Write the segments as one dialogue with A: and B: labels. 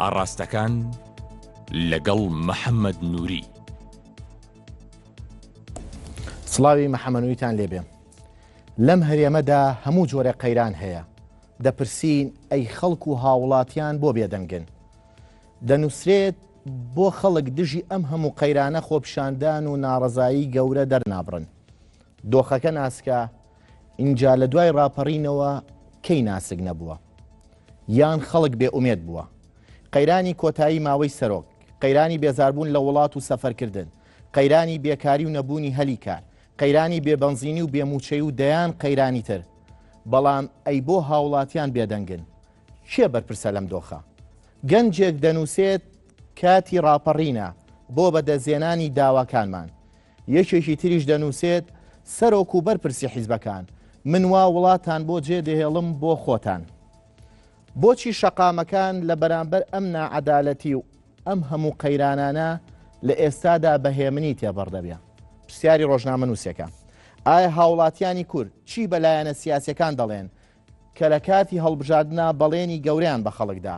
A: ئاڕاستەکان لەگەڵ محەممەد نووری.
B: سڵاوی محەمەنویتان لێبێ لەم هەرێمەدا هەموو جۆرە قەیران هەیە دەپرسین ئەی خەڵک و هاوڵاتیان بۆ بێدەنگن دەنووسرێت بۆ خەڵک دژی ئەم هەموو قەیرانە خۆپشاندان و ناڕزایی گەورە دەرنابڕن دۆخەکە ناسکە ئینجا لە دوای ڕاپەڕینەوە کەی ناسک نەبووە یان خەڵک بێ ئومێد بووە قەیرانی کۆتایی ماوەی سەرۆک قەیرانی بێزاربوون لە وڵات و سەفەرکردن قەیرانی بێکاری و نەبوونی هەلی کار قەیرانی بێبەنزینی و بێموچەی و دەیان قەیرانی تر بەڵام ئەی بۆ هاوڵاتیان بێدەنگن کێ بەرپرسە لەم دۆخە گەنجێک دەنووسێت کاتی ڕاپەڕینە بۆ بەدەزێنانی داواکانمان یەکێکی تریش دەنووسێت، سەرۆک و بەرپرسی حیزبەکان، من وا وڵاتان بۆ جێ دەهێڵم بۆ خۆتان. بۆچی شەقامەکان لە بەرامبەر ئەم ناعەدالەتی و ئەم هەموو قەیرانانە لە ئێستادا بە هێمنی تێبڕ دەبێ؟ پرسیاری ڕۆژنامە نووسەکە. ئایا هاوڵاتیانی کورد چی بە لایەنە سیاسەکان دەڵێن کە لە کاتی هەڵبژاردنا بەڵێنی گەورەیان بە خەڵکدا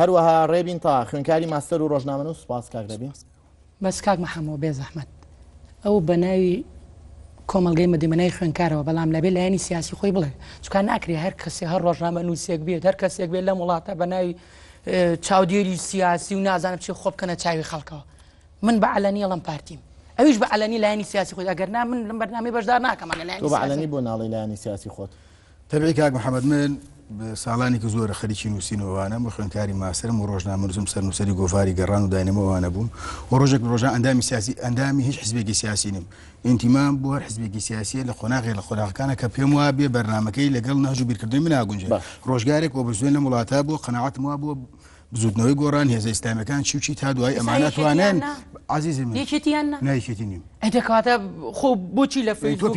C: هەروەها ڕێبین
B: تا خوێنکاری ماستەر و ڕۆژنامەن و سوپاس کاک دەبین بەس کاک
C: محەمەوە بێ زەحمەت ئەو بە ناوی کۆمەلگەی مدیمنای خوێنکارەوە بەڵام لەبێ لایەنی سیاسی خۆی بڵێ چکان ناکرێ هەر کەسی هەر ڕۆژنامە نووسێک بێت هەر کەسێک بێت لەم وڵاتە بە ناوی چاودێری سیاسی و نازانم چی خۆ بکەنە چاوی خەڵکەوە من بە علەنی ئەڵم پارتیم ئەویش بە علەنی لایەنی سیاسی خۆی ئەگەر نا من لەم بەرنامی بەشدار ناکەمانە لایەنی بۆ ناڵی
B: لایەنی سیاسی خۆت تەبعی کاک محمد
D: من ساڵانێکی زۆرە خەریکی نووسین ئەوانم و خوێنکاری ماسرم و ڕۆژنامەنووسم سەرنووسری گۆڤاری گەڕان و داینەمە ئەوانە بووم و ڕۆژێک ڕۆژان ئەندامی سیاسی ئەندامی هیچ حزبێکی سیاسی نیم ئینتیمان بۆ هەر حزبێکی سیاسیە لە قۆناغێ لە قۆناغەکانە کە پێم وا بێ بەرنمەکەی لەگەڵ ناژ و بیرکردنی من ناگونجێ ڕۆژگارێک و بزوێن لە وڵاتە بۆ قەنەعاتم وا بۆ بزوتنەوەی گۆڕان هێزە ئیسلامەکان چی چی تا دوای ئەمانە توانێن عزیزم یەکێتیان نایکێتی
C: نیم
D: ئەدەکاتە
C: خۆ بۆچی لە فەیسبوک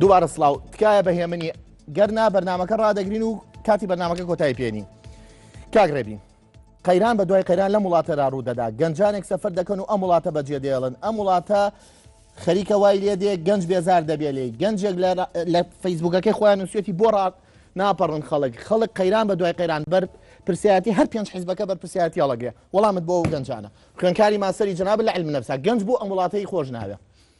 B: دووبارە سلااو تکایە بە هێمنی گەرنا بەرنمەکە ڕدەگرین و کاتی بەنامەکە کۆتای پێێنی کاگرێبین قەیران بە دوای قەیران لەم وڵاتەدا ڕوودەدا گەنجانێک سەفەر دەکەن و ئەم وڵاتە بەجێ دێڵن ئەم وڵاتە خەریکە وای لێ دێ گەنج بێزار دەبێ لێ گەنجێک لە فەیسبوکەکەی خۆیان نووسێتی بۆ ڕات ناپەڕن خەڵک خەڵک قەیران بە دوای قەیران بەر پرسیاتی هەر پێنج حزبەکە بەر پرسیاتی هەڵەگرێ وەڵامت بۆ و گەنجانە خوێنکاری ماسەری جناب لە علم نەبسا گەنج بۆ ئەم وڵاتەی خۆش ناوێ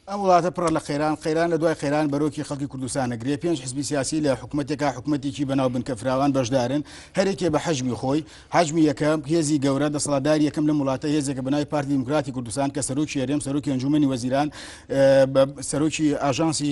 B: ئەم
D: وڵاتە پڕە لە قەیران قەیران لە دوای قەیران بەرۆکی خەڵکی کوردستان نەگرێ پێنج حزبی سیاسی لە حکوومەتێکا حکوومەتێکی بەناو بنکە فراوان بەشدارن هەرێکێ بە حەجمی خۆی حەجمی یەکەم هێزی گەورە دەسەڵاتدار یەکەم لەم وڵاتە هێزێکە بەناوی پارتی دیموکراتی کوردستان کە سەرۆکی هەرێم سەرۆکی ئەنجومەنی وەزیران سەرۆکی ئاژانسی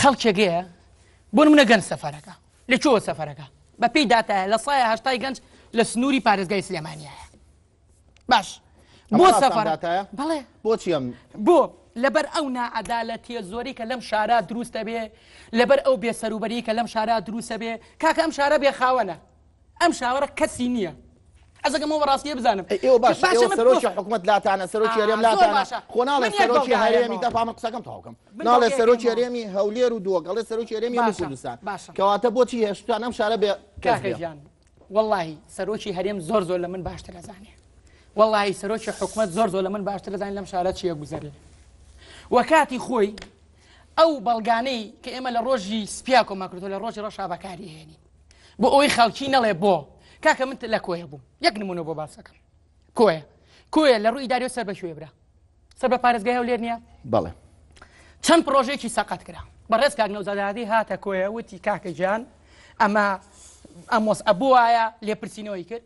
C: خەڵکێگەیە بۆ نمونە گەنج سەفەرەکە لە چۆوە سەفەرەکە بە پێی داتایە لە سایە هەشتای گەنج لە سنووری پارێزگای سلێمانیایە باش بۆ سەفەر بڵێ بۆچی ئەم
B: بۆ لەبەر
C: ئەو نعادالەتیە زۆری کە لەم شارە دروستە بێ لەبەر ئەو بێسەروبەری کە لەم شارە دروستە بێ کاکە ئەم شارە بێ خاوەنە ئەم شاوەرە کەسی نییە ئەزەکەمەوە بەڕاستیە بزانم ئێوە باش سەرۆکی
B: حکوومەت لاتانە سەرۆکی هەرێم لاتانە خۆ ناڵێ سەرۆکی هەرێمی دەفامە قسەکەم تاوکەم ناڵێ سەرۆکی هەرێمی هەولێر و دووەگەڵێ سەرۆکی هەرێمی کوردستان کەواتە بۆچی هێشتان ئەم شارە بێ کاکەیان
C: واللهی سەرۆکی هەرێم زۆر زۆر لە من باشتر ئەزانێ واللهی سەرۆکی حکوومەت زۆر زۆر لە من باشتر دەزانین لەم شارە چیە گوزەرێ وەکاتی خۆی ئەو بەڵگانەی کە ئێمە لە ڕۆژی سپیا کۆماکرۆ لە ڕۆژی ڕەشا بەکاری هێنین بۆ ئەوەی خەڵکی نەڵێ بۆ کاکە من لە کۆیە بووم یەک نمونە بۆ باسەکەم کۆیە کۆیە لە ڕووی داری سەر بە شوێ برا سەر بە پارێزگای هەولێر نییە بەڵێ
B: چەند
C: پرۆژێکی سەقەت کرا بەڕێز کاک نەوزادادی هاتە کۆیە وتی کاکە گیان ئەمە ئەمۆس ئەبووایە لێپرسینەوەی کرد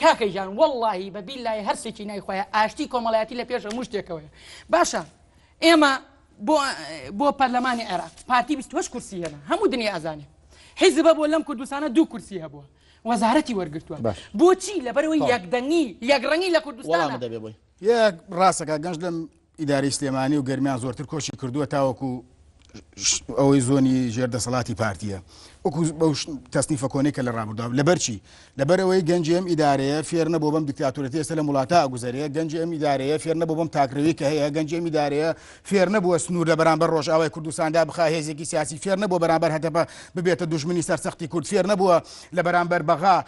C: کاکە گیان وەڵاهی بە بیلای هەرسێکی نای خۆیان ئاشتی کۆمەڵایەتی لە پێش هەموو شتێکەوەیە باشە ئێمە بۆ بۆ پەرلەمانی عێراق پارتی 28 کورسی هێنا هەموو دنیا ئازانێ حیزبە بۆ لەم کوردستانە دوو کورسی هەبووە وەزارەتی وەرگتووە بۆچی لەبەرەوەی یەکدەنگی یەکڕەنگی لە کوردستان دەبێ بۆی یە
D: ڕاستە کاک گەنج لەم ئیدارەی سلێمانی و گەرمیان زۆرتر کۆچی کردووە تاوەکو ئەوەی زۆنی ژێر دەسەڵاتی پارتیە وەکو بەو تەسنیفە کۆنێک کە لە ڕابردا لەبەرچی لەبەرەوەی گەنجی ئەم ئیدارەیە فێرنە بۆ بەم دیکتاتورەتی ئێستا لە وڵاتە گوزارەیە گەنجی ئەم ئیدارەیە فێرنە بۆ بەم تاکرەوی کە هەیە گەنجی ئەم ئیدارەیە فێرنە بووە سنوور لە بەرامبەر ڕۆژاوای کوردستاندا بخا هێزێکی سیاسی فێرنە بۆ بەرامبەر هەتەپە ببێتە دژمنی سەرسەختی کورد فێرنە بووە لە بەرامبەر بەغا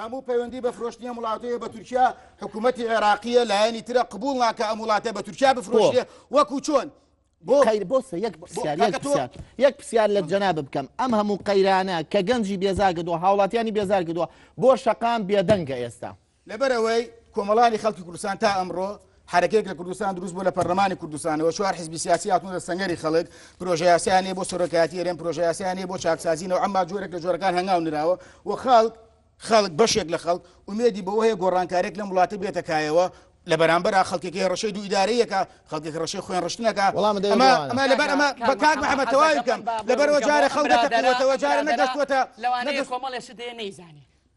D: هەموو پەیوەندی بە فرۆشتنی ئەم وڵاتەیە بە تورکیا حکوومەتی عێراقیە لایەنی ترە قبول ناکە ئەم وڵاتە بە تورکیا بفرۆشیە وەکو چۆن بۆ خیر بۆسە یەک پرسیار یەک کاکە تۆ-
B: پرسیار یەک پرسیار لە جەنا بکەم ئەم هەموو قەیرانە کە گەنجی بێزار کردووە هاوڵاتیانی بێزار کردووە بۆ شەقام بێدەنگە ئێستا
D: لەبەرەوەی کۆمەڵانی خەڵکی کوردستان تا ئەمڕۆ حەرەکەیەک لە کوردستان دروست بوو لە پەرلەمانی کوردستانەوە چوار حزبی سیاسی هاتوونە سەنگەری خەڵک پرۆژەیاسیانێ بۆ سەرۆکایەتی ئەرێن پرۆژەیاسیانێ بۆ چاکسازی نەوە ئەمما جۆرێک لە جۆرەکان هەنگاو نراوە و خەڵک خەڵک بەشێک لە خەڵک ومێدی بەوە هەیە گۆڕانکارێک لەم وڵاتە بێتە کایەوە لە بەرامبەر خەڵکێکی ڕشەی دوو ئیدارەیەەکە خەڵکێک ڕشەی خوێن ڕشتنەکە ئەمە لەبەر ئەمە بەکات محەمە تەواوی بکەم لەبەرەوە جارە خەڵکەوەتەوە جارە نەگەشتوەتە لەوانەیە کۆمەڵێ
C: شتێ نەیزانێت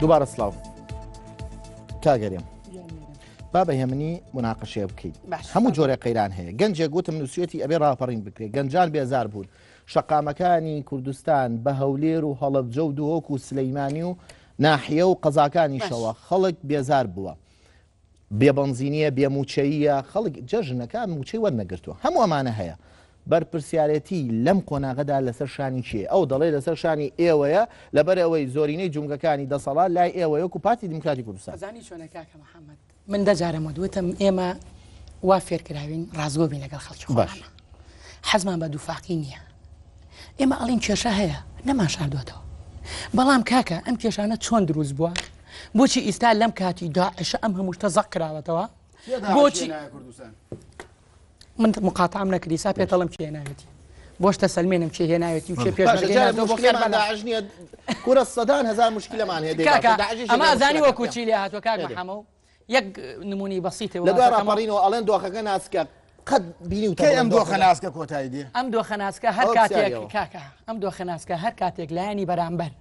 B: دووبارە سلااو کاگەریم با بە هێمنی مناقەشێ بکەیت هەموو جۆرە قەیران هەیە گەنجێک گوتم نووسەتی ئەبێ ڕاپەڕین بکرێت گەنجان بێزار بوون شەقامەکانی کوردستان بە هەولێر و هەڵبجە و دهۆک و سلەیمانی و ناحە و قەزاکانی شەوە خەڵک بێزار بووە بێ بەنزینیە، بێ مووچەییە، خەڵک جەژنەکە مووچەی وەرنەگرتووە، هەموو ئەمانە هەیە. بەرپرسیارێتی لەم قۆناغەدا لەسەر شانی کێیە؟ ئەو دەڵێ لەسەر شانی ئێوەیە، لەبەر ئەوەی زۆرینەی جومگەکانی دەسەڵات لای ئێوەیە وەکو پارتی دیموکراتی کوردستان. زانی چۆنە کاکە
C: محەمەد، من دە جارم وت، وتم ئێمە وا فێرکراوین ڕاستگۆ بین لەگەڵ خەڵکی خۆمان، حەزمان بە دووفاقی نییە، ئێمە ئەڵێین کێشە هەیە نەمانشاردووەتەوە، بەڵام کاکە ئەم کێشانە چۆن دروست بووە؟ بۆچی ئیستا لەم کاتی داعشە ئەم هەموو شتە زەق کراوەتەوە بۆچی من مقاتام نەکردی سا پێتەڵم چێ ناوێتی بۆشتە سلمێنم چێ هێ ناوێتی چێ پێشنیە
B: کورە سەدان هزار مشکلەمان هێ ئەمازانی
C: وەکوچی لێ هاتوە کاک محەمە و یەک نمونەی بەسیتە لە دوای ڕاپەڕینەوە ئەڵێن
B: دۆخەکە ناسکە قەت بینیوتە کەی ئەم دۆخە ناسکە
D: کۆتایی دێ ئەم دۆخە ناسکە هەر
C: ئەوە کاتێک پرسیارەوە. کاکە ئەم دۆخە ناسکە هەر کاتێک لایەنی بەرامبەر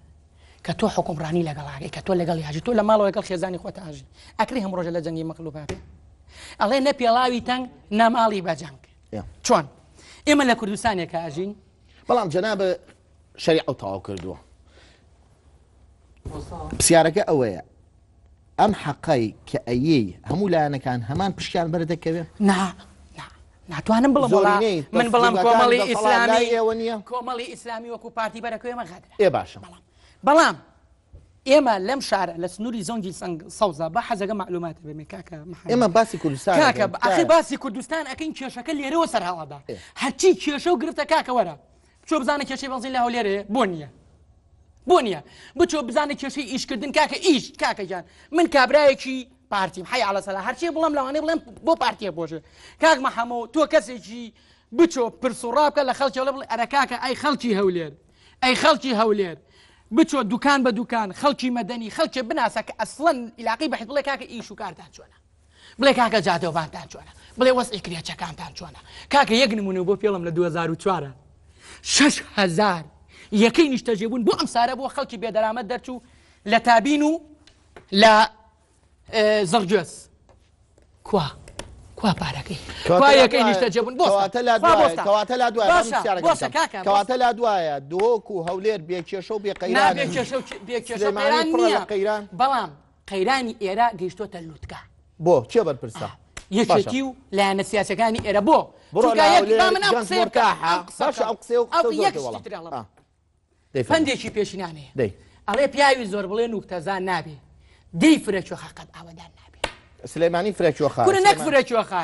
C: کە تۆ حکومڕانی لەگەڵاگەی کە تۆ لەگەڵ یاژی تۆ لە ماڵەوە لەگەڵ خێزانی خۆت ئاژی ئەکری هەم ڕۆژە لە جەنگی مەقلوب هاتێ ئەڵێ نە پێڵاوی تەنگ ناماڵی بە جەنگ Yeah. چۆن ئێمە لە کوردستانێکە ئاژین بەڵام جەنابە
B: شەریعە و تەواو کردووە پرسیارەکە ئەوەیە ئەم حەقای کە ئەیی هەموو لایەنەکان هەمان پشکیان بەردەکەوێت نا نا.
C: ناتوانم بڵم زۆرینەی من بڵم دەسەڵاتداری کۆمەڵی لای ئیسلامی ئێوە نییە کۆمەڵی ئیسلامی وەکو پارتی بەرەکەێمە غەدرە ئێ باشە
B: بەڵام
C: ئێمە لەم شارە لە سنووری زۆنگی سنگ سەوزە بە حەزەکە معلوماتە بێمێ کاکە محەممەد. ئێمە باسی کوردستان
B: کاکە دەکەین. ئەخی باسی
C: کوردستان ئەکەین کێشەکە لێرەوە سەرهاڵدا هەرچی کێشە و گرفتە کاکەوەرە بچۆ بزانە کێشەی بەنزین لە هەولێرە هەیە بۆ نییە بۆ نییە بچۆ بزانە کێشەی ئیشکردن کاکە ئیش کاکەگیان من کابرایەکی پارتیم حی على سەلا هەرچی بڵم لەوانەیە بڵێم بۆ پارتیە بۆژێ کاک مەحەمۆ تۆ کەسێکی بچۆ پرس و ڕابکە لە خەڵکی لە بڵێ ئەرە کاکە ئەی خەڵکی هەولێر ئەی خەڵکی هەولێر بچۆ دوکان بە دوکان خەڵکی مەدەنی خەڵکێ بناسە کە ئەسڵەن عیلاقی بەحیت بڵێ کاکە ئیش و کارتان چۆنە بڵێ کاکە جادۆڤانتان چۆنە بڵێ وەزعی کرێچەکانتان چۆنە کاکە یەک نمونە بۆ پێڵم لە 2004 شش هزار یەکەی نیشتەجێ بوون بۆ ئەم سارە بۆ خەڵکی بێدەرامەت دەرچوو لە تابین و لە زڕگوێز کوا کوا پارەکەی کوا یەکەی نیشتە جێبوون بۆتە لا دواتە
B: لا دواتە لا دوایە دۆک و هەولێر بێکێشە و بێقەیران بێکێشە
C: بێکێشە قەیران بەڵام
B: قەیرانی ئێرە
C: گەیشتۆتە لوتکە.
B: بۆ کێ
C: بەرپرسە؟ یەکێتی و لایەنە سیاسەکانی ئێرە بۆ پندێکی پێشینانەیە دەی ئەڵێ پیاوی زۆر بڵێ نوکتەزان نابێ دەی فرەچۆخە قەت ئاوادان نابێ سلێمانی
B: فرەچۆخە فرەچۆخە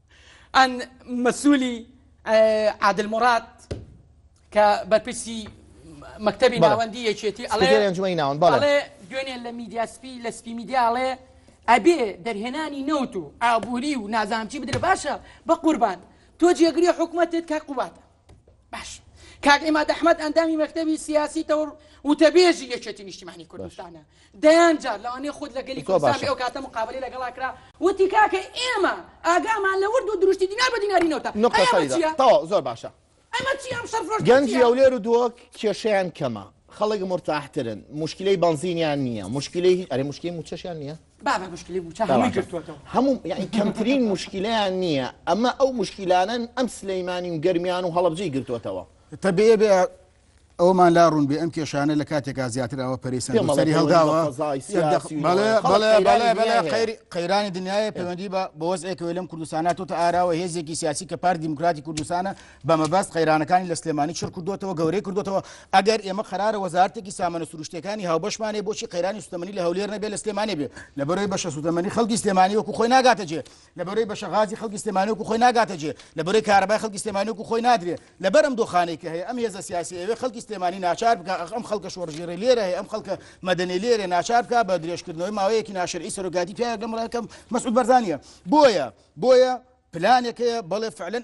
C: ئان مەسولی عادل موراد کە بەرپرسی مەکتەبی بەڵێ. ناوەندی یەکێتی ئەڵێ سکرتێری ئەنجومەنی ناوەند، بەڵێ. ئەڵێ دوێنێ لە میدیا سپی لە سپی میدیا ئەڵێ ئەبێ دەرهێنانی نەوت و ئابووری و نازانم چی بدرێ باشە بەقوربان تۆ جێگری حکومەتت کاک قوبادە باش کاک عیماد ئەحمد ئەندامی مەکتەبی سیاسی تەور وتەبێژی یەکێتی نیشتیمانی کوردستانە دەیان جار لەوانەیە خود لە گەلی کوردستان ئەو کاتە مقابلی لەگەڵا کرا وتی کاکە ئێمە ئاگامان لە ورد و دروشتی دینار بە دیناری نەوتە نقطەتەوە زۆر
B: باشە
C: گەنجی ئەو لێر و دووەک
B: کێشیان کەمە خەڵک مرتاحترن مشکلەی بنزینیان نییە مشکلی ئەرێ مشکلی موچەشیان نییە بابە مشکلی موچە
C: هەمووی گرتووەتەوە. هەموو یەعنی کەمترین
B: موشکیلەیان نییە، ئەمە ئەو موشکیلانەن ئەم سلەیمانی و گەرمیان و هەڵەبجەی گرتووەتەوە. تەبێ
D: بێ ئەوەمان لا ڕوون بێ ئەم کێشانە لە کاتێکا زیاتر ئەوە پەرەی سەر بۆ سەری هەڵداوە پێمەڵێ فەزای سیاسی و بەڵێ نەوەی بەڵێ خەڵک بەڵێ قەیرانی بەڵێ دنیا هەیە. قەیر- قەیرانی دنیایە پەیوەندی بە بە وەزعێکەوەی لەم کوردستانە هاتۆتە ئاراوە هێزێکی سیاسی کە پارتی دیموکراتی کوردستانە بە مەبەست قەیرانەکانی لە سلێمانی چڕ کردووەتەوە، گەورەی کردووەتەوە، ئەگەر ئێمە قەرارە وەزارەتێکی سامانە سرووشتییەکانی هاوبەشمان هەیە بۆچی قەیرانی سووتەمەنی لە هەولێر نەبێت لە سلێمانی بێت، لەبەرئەوەی بەشە سووتەمەنی خەڵکی سلێمانی وەکو خۆی ناگاتە جێ، لەبەرئەوەی بەشە غازی خەڵکی سلێمانی وەکو خۆی ناگاتە جێ، لەبەرئەوەی کارەبای خەڵکی سلێمانی وەکو خۆی نادرێ، لەبەر ئەم دۆخانەی کە هەیە ئەم هێزە سیاسییە ئەیەوێت خەڵکی سلێمانی ناچار بکا ئەخ ئەم خەڵکە شۆڕشگێڕەی لێرە هەیە ئەم خەڵکە مەدەنیەی لێرەیە ناچار بکا بە درێژکردنەوەی ماوەیەکی ناشەرعی سەرۆکایەتی پیاوێک لەم ڕێکەم مەسعود بەرزانییە بۆیە بۆیە پلانێک هەیە بەڵێ فعلەن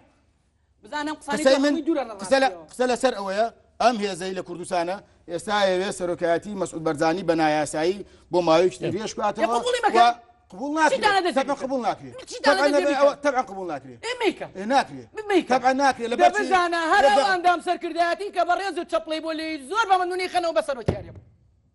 D: قسە لەسەر ئەوەیە ئەم هێزەی لە کوردستانە ئێستا ئەوێ سەرۆکایەتی مەسعود بەرزانی بە نایاسایی بۆ ماوەیەکی درێژ باتەوە قبول ناکرێت قبول ناکرێت تەبعا قبول ناکرێت ناکرێت تەبعا ناکرێت لە بەرزانە هەر
C: ئەندام سەرکردایەتی کە بە ڕێز و چەپڵی بۆ لێ زۆر بە منونی خەنەوە بە سەرۆکیارێ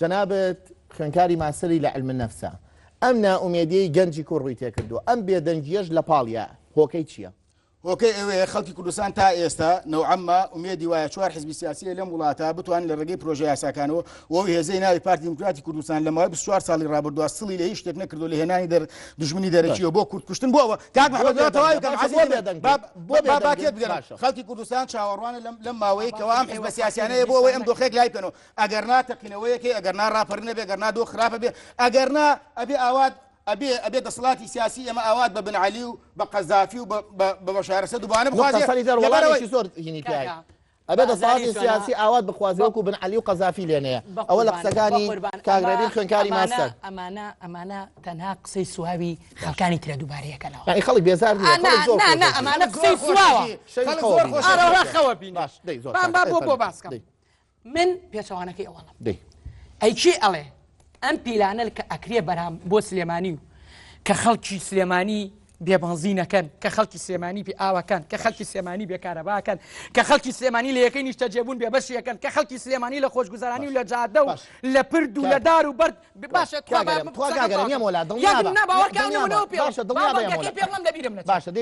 B: جەنابت خوێنکاری ماسەری لە علم نەفسە ئەم نائومێدیەی گەنجی کوڕ ڕووی تێکردو ئەم بێدەنگیەش لە پاڵیا هۆکەی چییە؟ هۆکەی ئەوەیە
D: خەڵکی کوردستان تا ئێستا نەوعەمما ئومێدی وایە چوار حزبی سیاسیە لەم وڵاتە بتوان لە ڕێگەی پرۆژە یاساکانەوە وەو هێزەی ناوی پارتی دیموکراتی کوردستان لە ماوەی 24 ساڵی ڕابردووە سڵی لە هیچ شتێک نەکردو لە هێنانی دەر دژمنی دەرەکیەوە بۆ کورد کوشتن بۆەوە کاک محمد تەواوی کەم باکێت بگەن خەڵکی کوردستان چاوەڕوانە لەم ماوەیەکەوە ئەم حزبە سیاسیانەیە بۆ ئەوەی ئەم دۆخێک لای بکەنەوە ئەگەر نا تەقینەوەیەکەی ئەگەر نا ڕاپەرینە بێ گەر نا دۆخ خراپە بێ ئەگەر نا ئەبێ ئاوات ئەبێ ئەبێ دەسەڵاتی سیاسی ئێمە ئاوات بە بن عەلی و بە قەزافی و بە بەشارەسە دوبانە بخوازێ وڵاتێکی
B: زۆر هینی پیاکە ئەبێ دەسەڵاتی سیاسی ئاوات بخوازێ وەکو بن عەلی و قەزافی لێنەیە ئەوە لە قسەکانی کاگرێبی خوێنکاری ماستە ئەمانە ئەمانە
C: تەنها قسەی سواوی خەکانی ترە دووبارەیەکەنەوە ئەی خەڵک بێزار
B: ئەمانە
C: قسەی سواوە خەوە بین بۆ بۆ باسکە من پێچەوانەکەی ئەوڵم ئەی چی ئەڵێ ئەم پیلانە کە ئەکرێ بەرام بۆ سلێمانی و کە خەڵکی سلێمانی بێبنزینەکەن کە خەڵکی سلێمانی پێ ئاوەکان کە خەڵکی سلێمانی بێکارەباکەن کە خەڵکی سلێمانی لە یەکەی نیشتە جێبوون بێ بەشیەکەن کە خەڵکی سلێمانی لە خۆشگوزارانی و لە جادە و لە پرد و لە دار و بەرد باشە باشە دڵ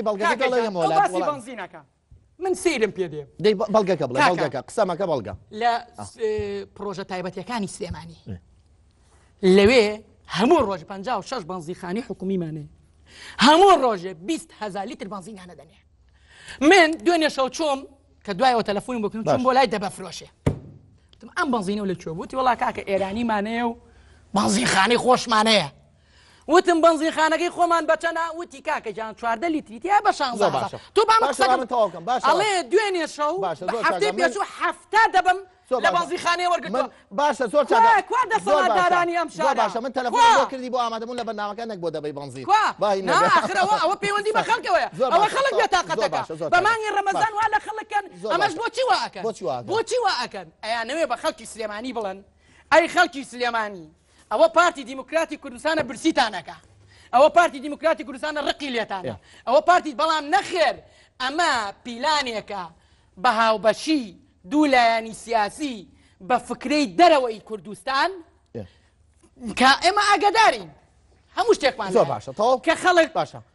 B: بەڵگەکە
C: من سەیرم پێ دێ دەی بە- بەڵگەکە بڵێ کاکە.
B: بەڵگەکە قسە مەکە بەڵگە لە س-
C: پڕۆژە تایبەتەکانی سلێمانی اه. لەوێ هەموو ڕۆژ 56 بەنزیخانی حکومیمانێ هەموو ڕۆژێ 20 هزار لیتر بەنزینانە دەنێ من دوێنێ شەو چۆم کە دوایەوە تەلەفۆنی بکەم باش. چون بۆ لای دەبە فرۆشێ وتم، ئەم بەنزینە و لە کوێ بووتی وڵا کاکە ئێرانیمانەیە و بەنزیخانی خۆشمانەیە وتم بەنزینخانەکەی خۆمان بەچەنە وتی کاکە جان چواردە لیتری تیا بە شان زۆر باشە تو بە من قسەکەم تەواوکەم باش ئەڵێ دوێنێ شەو هەفتەی پێشوو هەفتا دەبم لە بەنزینخانەی وەرگرتم باشە زۆر چاکە
B: کوا دەسەڵاتدارانی
C: ئەم شارە باشە من تەلەفۆن بۆ
B: کردی بۆ ئامادەبوون لە بەرنامەکە نەک بۆ دەبەی بەنزین کوا نا ئاخرەوە
C: ئەوە پەیوەندی بە خەڵکەوەیە ئەوە خەڵک بێتاقەتەکە بە مانگی ڕەمەزان وا لە خەڵک کەن ئەمەش بۆچی وا ئەکەن بۆچی وا ئەکەن ئەیانەوێ بە خەڵکی سلێمانی بڵێن ئەی خەڵکی سلێمانی ئەوە پارتی دیموکراتی کوردستانە برسیتانەکە ئەوە پارتی دیموکراتی کوردستانە ڕقی لێتانە ئەوە پارتی بەڵام نەخێر ئەمە پیلانێکە بە هاوبەشی دوو لایەنی سیاسی بە فکرەی دەرەوەی کوردستان کە ئێمە ئاگدارین هەموو شتێکمان زۆر باشە تەواو کە
B: خەڵک باشە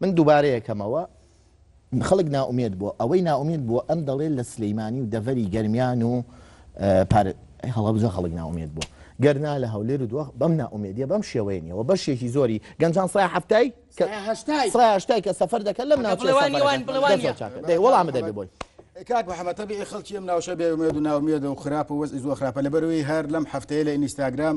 B: من دوبارەیەکەمەوە خەڵک نائومێد بووە ئەوەی نائومێد بووە ئەم دەڵێت لە سلیمانی و دەڤەری گەرمیان و پار هەڵەبجە خەڵک ناومێت بوو گەرنا لە هەولێر و دووە بەم ناومێدیە بەم شێوەیە نیەوە بەشێکی زۆری گەنجان سای هەفتای هەشتای کە سەفەر دەکەن لەم ناوڵامە دەبێ بۆی. کاک محەممە تەبی
D: خەڵکی ئەم ناوشە بێمێد و ناومێد و خراپ و وەز زۆ خراپە لە بەروی هەر لەم هەفتەیە لە ئینیستاگرام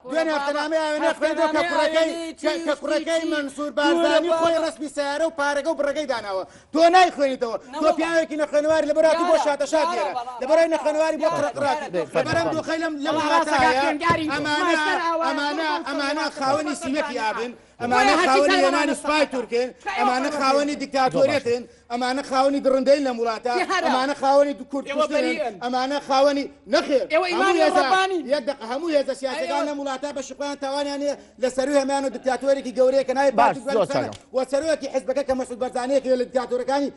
D: دوێ نافتەنامەی ئاوێنە خوێندەوە کە کوڕەکەی کە کوڕەکەی مەنسوور بارزانی خۆی ڕەسمی سەیارە و پارەگە و بڕەکەی داناوە تۆ نایخوێنیتەوە تۆ پیاوێکی نەخوێنەواری لەبەر هاتوو بۆ شاتە شات لێرە لەبەرای نەخوێنەواری بۆ قڕقڕاتی لەبەرم دۆخەی لەم لەم وڵاتە ئەمانە ئەمانە ئەمانە خاوەنی سیمەتی ئابن ئەمانە خاوەنی هێنانی سوپای تورکن ئەمانە خاوەنی دیکتاتۆریەتن ئەمانە خاوەنی دڕندەی لە وڵاتە ئەمانە خاوەنی دوکورد ئەمانە خاوەنی نەخێر یەک دق هەموو هێزە سیاسەکان لە وڵاتە بە شخوان تاوانیان لە سەروی هەمان و دیکتاتۆرێکی گەورەیەکە نای باش وەسەرۆکی حزبەکە کە مەسود بەرزانەیەکی لە دیکتاتۆرەکانی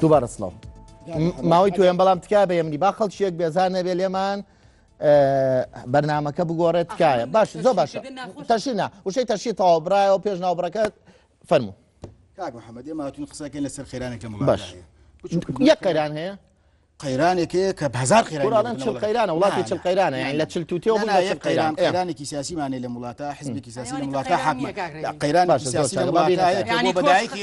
B: دووبارە سڵاو ماوەی توێن بەڵام تکای بە یەمنی با خەڵکیێک بێزان نەبێ لێمان بەرنمەکە بگۆڕێت تکایە باش زۆ باشە تەشینا وشەی تەشی تەواو برایەوە پێش ناوبڕەکەت فەرمو کاک محەممەد
D: ئێمە هاتون قسەکەن لەسەر خێرانێک لە باش یەک
B: قەران هەیە قەیرانێک هەیە
D: کە هزار قەیران چل قەیرانە
B: وڵاتی چل قەیرانە یان لە چل توتێ قەیران قەیرانێکی
D: سیاسیمانێ لە وڵاتە حزبێکی سیاسی لە وڵاتە حاکم قەیران سیاسی لە وڵاتە بەدایکی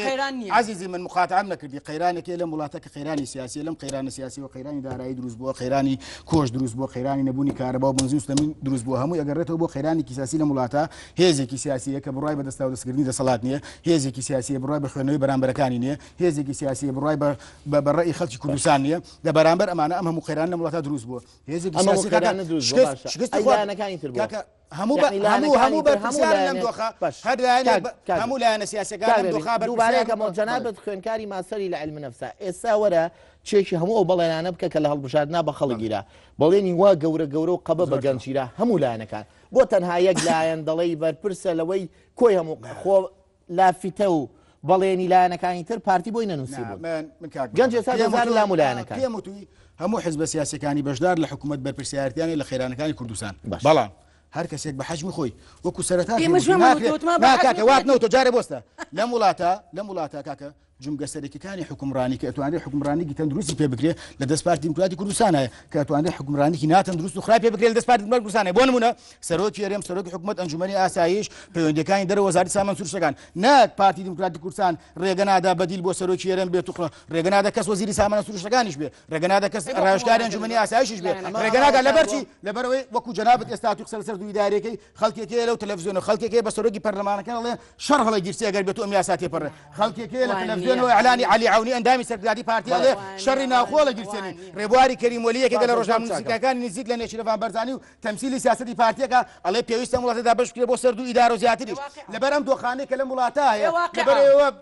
D: عزیزی من مخاتام نەکردی قەیرانێکی لە وڵاتە کە قەیرانی سیاسی لەم قەیرانە سیاسی و قەیرانی دارایی دروست بووە قەیرانی کۆش دروست بۆ قەیرانی نەبوونی کارەبا و بنزوستە من دروست بۆ هەموو ئەگەڕێتەوە بۆ قەیرانێکی سیاسی لە وڵاتە هێزێکی سیاسیە کە بڕای بەدەستاو دەستکردنی دەسەڵات نیە هێزێکی سیاسی بڕای بە خوێنەوەی بەرامبەرەکانی نیە هێزێکی سیاسیە بڕای بە بە ڕێی خەڵکی کوردستان نیە لە بەرامبەر ئەمانە ئەم هەموو قەیران لە وڵاتە دروست بووە هێزێکی هەموو هەموو هەموو هەموو لایەنە سیاسەکانەکەمەوە جەنابەت
B: خوێنکاری ماسەری لە علم نفسا ئێستا وەرە چێکی هەموو ئەو بەڵێنانە بکە کە لە هەڵبژاردنا بە خەڵگیرا بەڵێنی وا گەورە گەورە و قەبە بە گەنجیرا هەموو لایەنەکان بۆ تەنها یەک لایەن دەڵی بەرپرسە لەوەی کۆی هەموو خۆ لافتە و بەڵێنی لایەنەکانی تر پارتی بۆی نەنووسی بوون گەنج ئێستا دەزار لام لایەنەکە پێم وتوی هەموو
D: حزبە سیاسەکانی بەشدار لە حکوومەت بەرپرسیارتیانی لە خێرانەکانی کوردستان بەڵام هەر کەسێک بە حەجمی خۆی وەکو سەرەتا کاکە وات نەوتۆ جارە بۆستە لەم وڵاتە لەم وڵاتە کاکە جومگە سەرەکیەکانی حوکمڕانی کە ئەتوانرێ حوکمڕانیکی تەندروستی پێ بکرێ لە دەست پارتی دیموکراتی کوردستانە کە ئەتوانرێ حوکمڕانیکی ناتەندروست و خراپی بکرێت لە دەست پارتی دیموکراتی کوردستانە بۆ نمونە سەرۆکی هەرێم سەرۆکی حکومەت ئەنجومەنی ئاسایش پەیوەندەکانی دەرە وەزارەتی سامان سروشتەکان نەک پارتی دیموکراتی کوردستان ڕێگە نادا بەدیل بۆ سەرۆکی هەرێم بێت و ڕێگە نادا کەس وەزیری سامانە سروشتەکانیش بێ ڕێگە نادا کەس ڕاوشکاری ئەنجومەنی ئاسایشیش بێت ڕێگە نادا لەبەرچی لەبەرەوەی وەکو جەنابەت ئێستا تو قسە لەسەر دوو ئیدارەکەی خەڵکێک هەیە لەو تەلەفزیۆنە خەڵکێک هەیە بە سەرۆکی پەرلەمانەکە ئەڵێ شەڕ هەڵی گیرسی ئەگەر بێت و ئەم یاسا تێپەڕێ خەڵکێک هەیە لە وان تەلەفزیۆن نییە. و ئەلانی علی عونی ئەندامی سەرکرداتی پارتی ئەڵێ وان نییە. شەڕی ناوخۆ لە گیرسێنین وان نییە. ڕێبواری کەریم وەلی یەکێکە لە باشە، زۆر ڕۆژنامە چاکە. نووسینگەکانی نزیک لە نێچیرەڤان بەرزانی و تەمسیلی سیاسەتی پارتییەکە ئەڵێ پێویستە ئەم وڵاتە دابەش بکرێ بۆ سەر دوو ئیدارە و زیاتریش واقیعە. لەبەر ئەم دۆخانەی کە لەم وڵاتە هەیە واقیعە. لەبەر ئێوە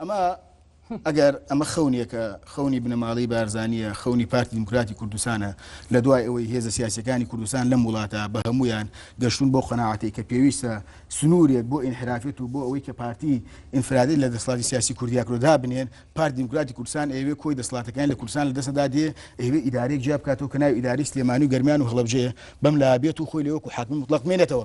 B: ئەمە
D: ئەگەر ئەمە خەونیەکە خەونی بنەماڵی بارزانیە خەونی پارتی دیموکراتی کوردستانە لە دوای ئەوەی هێزە سیاسەکانی کوردستان لەم وڵاتە بە هەمویان گەشتون بۆ قەنەعاتی کە پێویستە سنوورێک بۆ ئینحرافێت و بۆ ئەوەی کە پارتی ئینفرادی لە دەسڵاتی سیاسی کوردیاکرۆدا بنێن پارت دیموکراتی کوردستان ئەوێ کۆی دەسڵاتەکان لە کوردستان لە دەسەدا دێ ئەوێ ئیدارێک جیا بکاتەوە کە ناوی ئیداری سلێمانی و گەرمیان و هەڵبجەیە بەم لا بێت و خۆی لەوەکو حاکم مطلق مێنێتەوە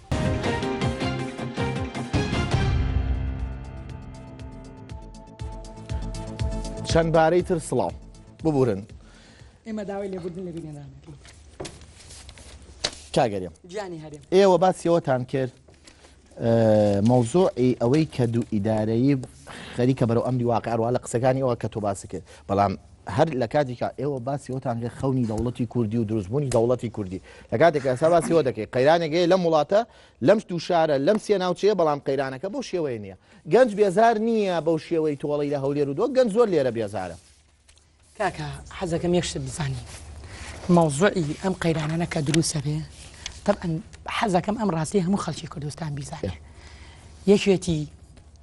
B: چەند بارەی تر سڵاو ببورن ئێمە
C: داوای لێبوردن لە بینێنان
B: کاگەریم گیانی هەرێم ئێوە
C: باسیەوەتان
B: کرد مەوزۆعی ئەوەی کە دوو ئیدارەیی خەریکە بەرەو ئەمری واقعڕوا لە قسەکانی ئەوە کە تۆ باسی کرد بەڵام هەر لە کاتیکا ئێوە باسی ئەوتان لێ خەونی دەوڵەتی کوردی و دروستبوونی دەوڵەتی کوردی لە کاتێک ئەسا باسی ئەوە دەکەی قەیرانێکەیە لەم وڵاتە لەم دوو شارە لەم سێ ناوچەیە بەڵام قەیرانەکە بەو شێوەیە نییە گەنج بێزار نییە بەو شێوەی تۆڵی لە هەولێر و دۆ گەنج زۆر لێرە بێزارە کاکە
C: حەزەکەم یەکشت بزانین مەوزوعی ئەم قەیرانانە کە دروسە بێ طبعا حەزەکەم ئەم ڕاستی هەموو خەڵکی کوردستان بیزانێ یەکێتی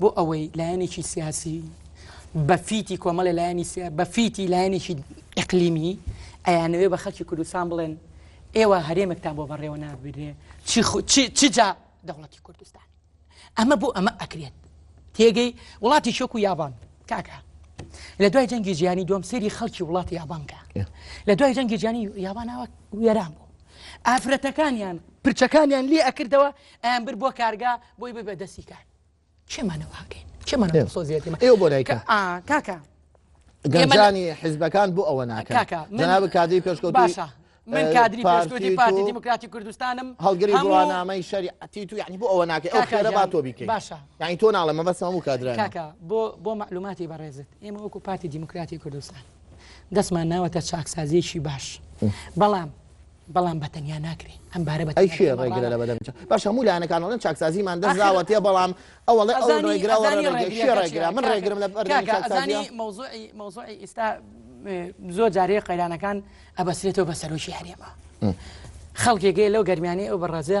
C: بۆ ئەوەی لایەنێکی سیاسی بە فیتی کۆمەڵی لایەنی سیا بە فیتی لایەنێکی ئەقلیمی ئەیانەوێ بە خەکی کوردستان بڵێن ئێوە هەرێمێکتان بۆ بەڕێوە نابرێ چی جا دەوڵەتی کوردستان ئەمە بۆ ئەمە ئەکرێت تێگەی وڵاتی شۆک و یابان کاکە لە دوای جەنگی جیانی دوم سری خەڵکی وڵاتی یابانکە لە دوای جەنگی جیانی یابانەوە وێران بوو ئافرەتەکانیان پرچەکانیان لێ ئەکردەوە ئەیان برد بۆ کارگا بۆی ببە دەستی کار چێمانە واکەین چێمانە سۆزیێت ئێوە بۆ لای کاکە گەنجانی
B: حیزبەکان بۆ ئەوە ناکاکە جناب کادی پێشکەوت باشە من
C: کادری پێشکەوتی پارتی دیموکراتی کوردستانم هەڵگری بڕوانامەی
B: شەریعەتی تو یعنی بۆ ئەوە ناکە ئەو خێرە با تۆ بیکەی باشە یعنی تۆ ناڵە
C: مەبەست
B: هەموو کادران کاکە بۆ بۆ
C: معلوماتی بەڕێزت ئێمە وەکو پارتی دیموکراتی کوردستان دەستمان ناوەتە چاکسازیەکی باش بەڵام بەڵام بە تەنیا ناکرێ ئەم بارە بە ئەی کێ ڕێگرە لە بەدەم چ
B: باش هەموو لایەنەکان ئەڵێن چاکسازیمان دەستداوە تێ بەڵام ئەوە ڵێ ئەو ڕێگراوە ڕێگرە کێ ڕێگرا من ڕێگرم لە بەردەم چاکسازی
C: مەوزوعی مەوزوعی ئیستا زۆر جارەیە قەیرانەکان ئەبەسرێتەوە بە سەرۆکی هەرێمە خەڵکێکێ لەو گەرمیانەی ئەو بەڕێزە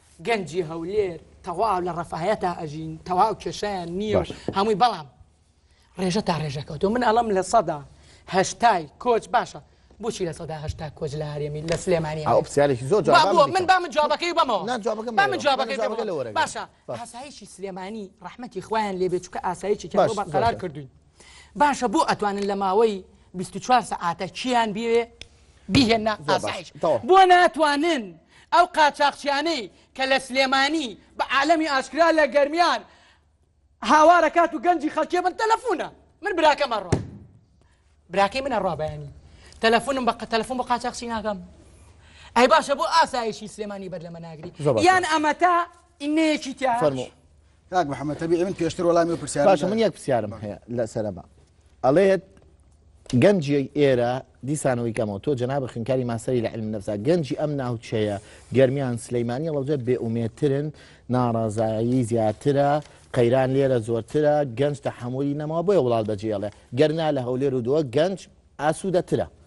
C: گەنجی هەولێر تەواو لە ڕەفاهەتا ئەژین تەواو کێشیان نییە و هەمووی بەڵام ڕێژە تا ڕێژەکەوتۆ من ئەڵم لە سەدا هەشتای کۆچ باشە بۆچی لە سەدا هەشتا کۆچ لە هەرێمی لە سلێمانی ئەوسیالێکی زۆر
B: من با من جوابەکەی
C: بەمەوە من جوابەکەی باشە ئاسایشی سلێمانی ڕحمەتی خویان لێبێ چکە ئاسایشی بەقەرار کردوین باشە بۆ ئەتوانن لە ماوەی بیست و چوار سەعاتە کییان بیەوێ بیهێنە زۆر باش ئاسایش تەواو بۆ ناتوانن ئەو قاچاخچیانەی کە لە سلێمانی بە عالەمی ئاشکرا لە گەرمیان هاوارە کات و گەنجی خەڵکێ بن تەلەفونە من براکەم ئەڕوا براکەی من ئەڕوا بەیانی تەلەفونم بە قە- تەلەفون بۆ قاچاخچی ناکەم ئەی باشە بۆ ئاسایشی سلێمانی بەر لەمە ناگری زۆر باشە. یان ئەمەتا ئینەیەکی تیا فەرموو چی؟ کاک
D: محەممەد تەبیعی من پێشتر وەڵامی و پرسیارم باشە من دایە. یەک پرسیارم هەیە
B: لەسەرەبا ئەڵێت گەنجی ئێرە دیسانەوەی کەمەوە تۆ جناب خنکاری ماسەری لە علم نەفسا گەنجی ئەم ناوچەیە گەرمیان سلەیمانی ڵەوجە بێ ئومێترن ناڕازایی زیاترە قەیران لێرە زۆرترە گەنج تەحملی نەماوە بۆیە وڵات بەجێڵێ گەرنا لە هەولێر و دووە گەنج ئاسوودەترە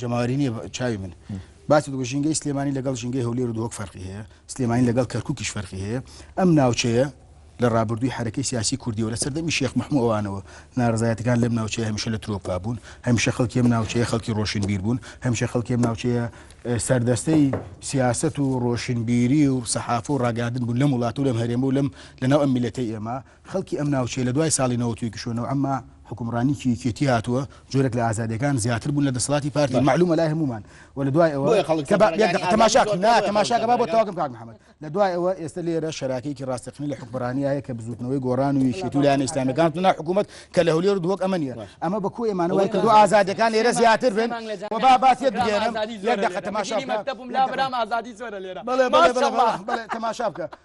D: جەماوەری نییە چاوی من باسی دوو ژینگەی سلێمانی لەگەڵ ژینگەی هەولێر و دۆک فەرقی هەیە سلێمانی لەگەڵ کەرکوکیش فەرقی هەیە ئەم ناوچەیە لە ڕابردووی حرەکەی سیاسی کوردیەوە لە سەردەمی شێخ محمووانەوە ناڕزایەتەکان لەم ناوچەیە هەمیشە لە ترۆپا بوون هەمیشە خەڵکی ئەم ناوچەیە خەڵکی ڕۆشن بیر بوون هەمیشە خەڵکی ئەم ناوچەیە سەردەستەی سیاست و ڕۆشنبیری و سەحاف و ڕاگادن بوو لەم وڵات و لەم هەرێمە و لەم لەناو ئەم میلەتەی ئێمە خەڵکی ئەم ناوچەیە لە دوای ساڵی نەوەت و یەکیشەوە نەوعەم ما حوکمڕانیی یەکێتی هاتووە، جۆرێک لە ئازادییەکان زیاتر بوون لە دەسەڵاتی پارتی، مەعلوومە لای هەموومان و لە دوای ئەوە، کە با یەک دەقە تەماشا بکەین، نا تەماشا کە با بۆت تەواو کەم کاک محەمەد، لە دوای ئەوە ئێستە لێرە شەراکەیەکی ڕاستەقینە لە حوکمڕانییە هەیە کە بزووتنەوەی گۆڕان و یەکێتی و لایەنە ئیسلامییەکان هاتنە ناو حکوومەت کە لە هەولێر و دهۆک ئەمە نییە، ئەمە بە کۆی ئێمانە وای کردووە ئازادییەکان لێرە زیاتر بن و با با تێت بگەیەنم، یەک دەقە تەماشا بکە. بەڵێ بەڵێ بەڵێ تەماشا بکە.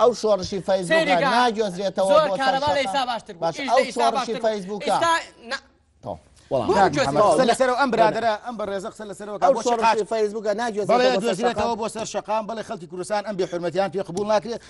B: ئەو
C: شۆڕشی
B: فەیزێتەوە فەیسبوک
D: لەسەر ئەم برادرە ئەم بە ڕێزە قسە لەسەرەوە فەیسبوکە
B: ناگوێتەوە
D: بۆ سەر شقام بەڵێ خەڵکی کوردستان ئەم بێ حرمەتیان پێ قبول ناکرێت